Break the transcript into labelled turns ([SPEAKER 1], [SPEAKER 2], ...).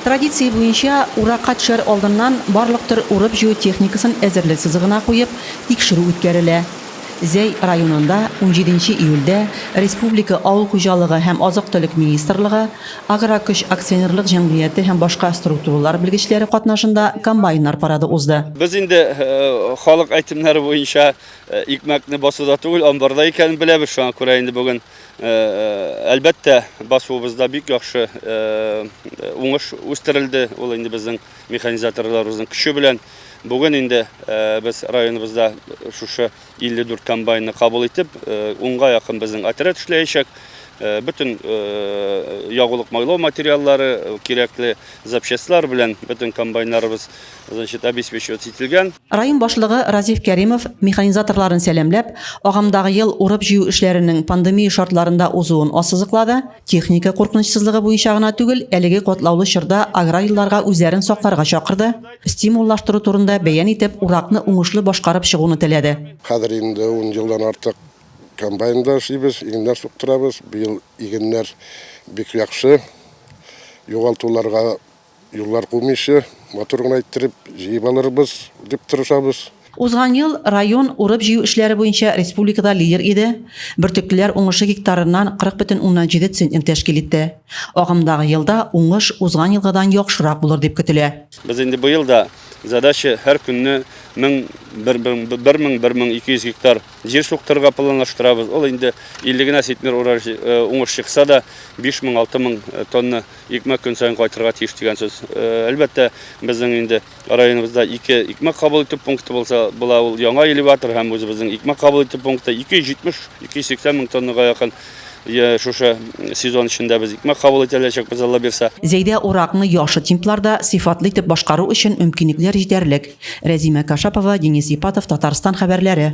[SPEAKER 1] Традиция буенча, уракка төшәр алдыннан барлык төр урып-җыю техникасын әзерлек сызыгына куеп, тикшерү үткәрелә. Зәй районында унҗиденче июльдә республика Авыл хуҗалыгы һәм азык-төлек министрлыгы, Агрокөч акционерлык җәмгыяте һәм башка структуралар белгечләре катнашында комбайннар парады узды. Без инде
[SPEAKER 2] халык әйтемнәре буенча икмәкне басуда түгел, амбарда икәнен беләбез, шуңа күрә инде бүген Әлбәттә, басуыбызда бик яхшы уңыш үстерелде. Ул инде безнең механизаторларыбызның көче белән. Бүген инде без районыбызда шушы 54 комбайнны кабул итеп, унга якын безнең отряд эшләячәк. Бөтен ягулык-майлау материаллары, кирәкле запчастьлар белән бөтен комбайннарыбыз значит, обеспечивать ителгән. Район башлыгы
[SPEAKER 1] Разиф Кәримов механизаторларын сәламләп, агымдагы ел урып-җыю эшләренең пандемия шартларында узуын ассызыклады. Техника куркынычсызлыгы буенча гына түгел, әлеге катлаулы чорда аграрийларга үзләрен сакларга чакырды, стимуллаштыру турында бәян итеп, уракны уңышлы башкарып чыгуны теләде. Хәзер инде ун
[SPEAKER 3] елдан артык комбайнда эшлибез, игеннәр суктырабыз. Быел игеннәр бик яхшы, югалтуларга Юллар кумыйча, матур гына иттереп җыеп алырбыз, дип тырышабыз. Узган ел
[SPEAKER 1] район урып-җыю эшләре буенча республикада лидер иде, бөртеклеләр уңышы гектарыннан 40,7 центнер тәшкил итте. Агымдагы елда уңыш узган елгыдан яхшырак булыр дип көтелә. Без инде быел да
[SPEAKER 2] задача һәр көнне мең, бер мең, бер мең ике йөз гектар җир суктырырга планлаштырабыз. Ул инде 50 генә центнер урар уңыш чыкса да, биш мең, алты мең тонна Икмәк көн саен кайтырга тиеш дигән сүз. Әлбәттә, безнең инде районыбызда ике икмәк кабул итү пункты булса, була ул яңа элеватор һәм үзебезнең икмәк кабул итү пункты 270-280 мең тоннага якын шушы сезон эчендә без икмәк кабул итә алачакбыз, Алла бирса. Зәйдә уракны
[SPEAKER 1] яхшы темпларда, сыйфатлы итеп башкару өчен мөмкинлекләр җитәрлек. Рәзимә Кашапова, Денис Ипатов, Татарстан хәбәрләре.